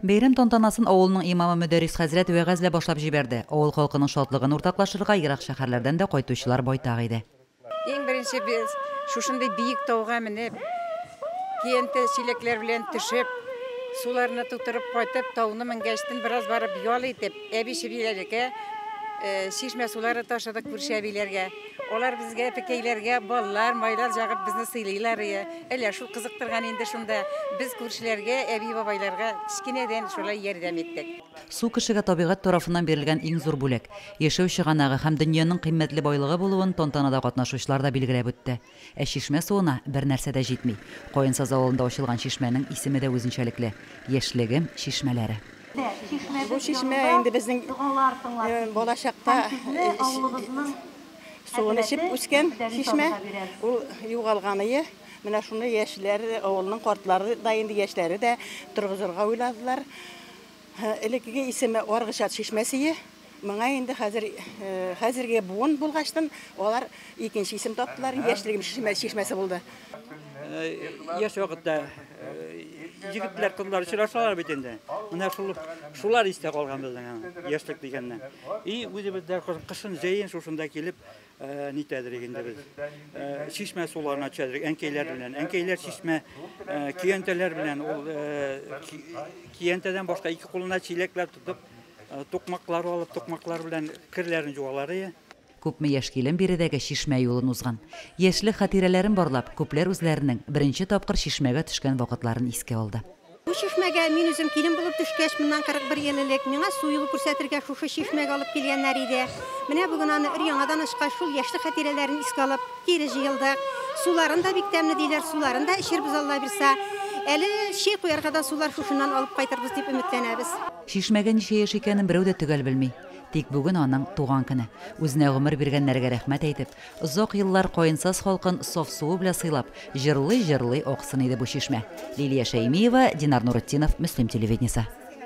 Бәйрәм тантанасын авылның имамы Мөдәррис хәзрәт вәгазьләп башлап җибәрде. Авыл халкының шатлыгын уртаклашырга ерак шәһәрләрдән дә кайтучылар байтак иде. Иң беренче без шушындый биек тауга менеп, тиенте чиләкләр белән төшеп, суларны тутырып кайтып, тауны менгәч, тын бераз барып ял итеп, әби-чебиләргә чишмә сулары ташыдык күрше әбиләргә. Алар безгә, пекәйләргә, баллар, майлар җагып безне сыйлыйлар иде. Әллә шул кызыктырган инде шунда. Без күршеләргә, әби-бабайларга кечкенәдән шулай ярдәм иттек. Су кешегә табигать тарафыннан бирелгән иң зур бүләк, яшәү чыганагы һәм дөньяның кыйммәтле байлыгы булуын тантанада катнашучылар да билгеләп үтте. Ә чишмә суына бернәрсә дә җитми. Каенсаз авылында ачылган чишмәнең исеме дә үзенчәлекле, Яшьлегем чишмәләре. Бу чишмә инде безнең балачакта суын эчеп үскән чишмә. Ул югалган ие. Менә шуны яшьләр, авылның картлары да инде яшьләре дә торгызырга уйладылар. Элеккеге исеме Аргычат чишмәсе. Моңа инде хәзер хәзерге буын булгачтан алар икенче исем таптылар, яшьлегем чишмәсе булды. Яшь вакытта егетләр, кызлар очрашалар бит инде. Менә шул шулар истә калган безнең яшьлек дигәннән. И үзебез дә кышын җәен шушында килеп, Нитәдерик инде без. Чишмә суларына төшәдерик, әнкәйләр белән. Әнкәйләр чишмә киянтәләр белән, ул киянтәдән башка ике кулына чиләкләр тотып, тукмаклар алып, тукмаклар белән керләрен җуалар. Күпме яшь килен биредәге чишмә юлын узган. Яшьлек хатирәләрен барлап, күпләр үзләренең беренче тапкыр чишмәгә төшкән вакытларын искә алды. Бу чишмәгә мин үзем килен булып төшкәч, моннан 41 ел элек, миңа су юлы күрсәтергә шушы чишмәгә алып килгәннәр иде. Менә бүген аны өр-яңадан ачкач, шул яшьлек хатирәләрен искә алып, кире җыелдык. Суларын да бик тәмле, диләр, суларын да эчербез, Аллабирса. Әле чәй куярга да сулар шушыннан алып кайтырбыз дип өметләнәбез. Чишмәгә ничә яшь икәнен берәү дә төгәл белми. Тик бүген аның туган көне. Үзенә гомер биргәннәргә рәхмәт әйтеп, Озак еллар Каенсаз халкын саф суы белә сыйлап, җырлый-җырлый аксын иде бу чишмә. Лилия Шәймиева, Динар Нуретдинов, Мөслим телевидениесе.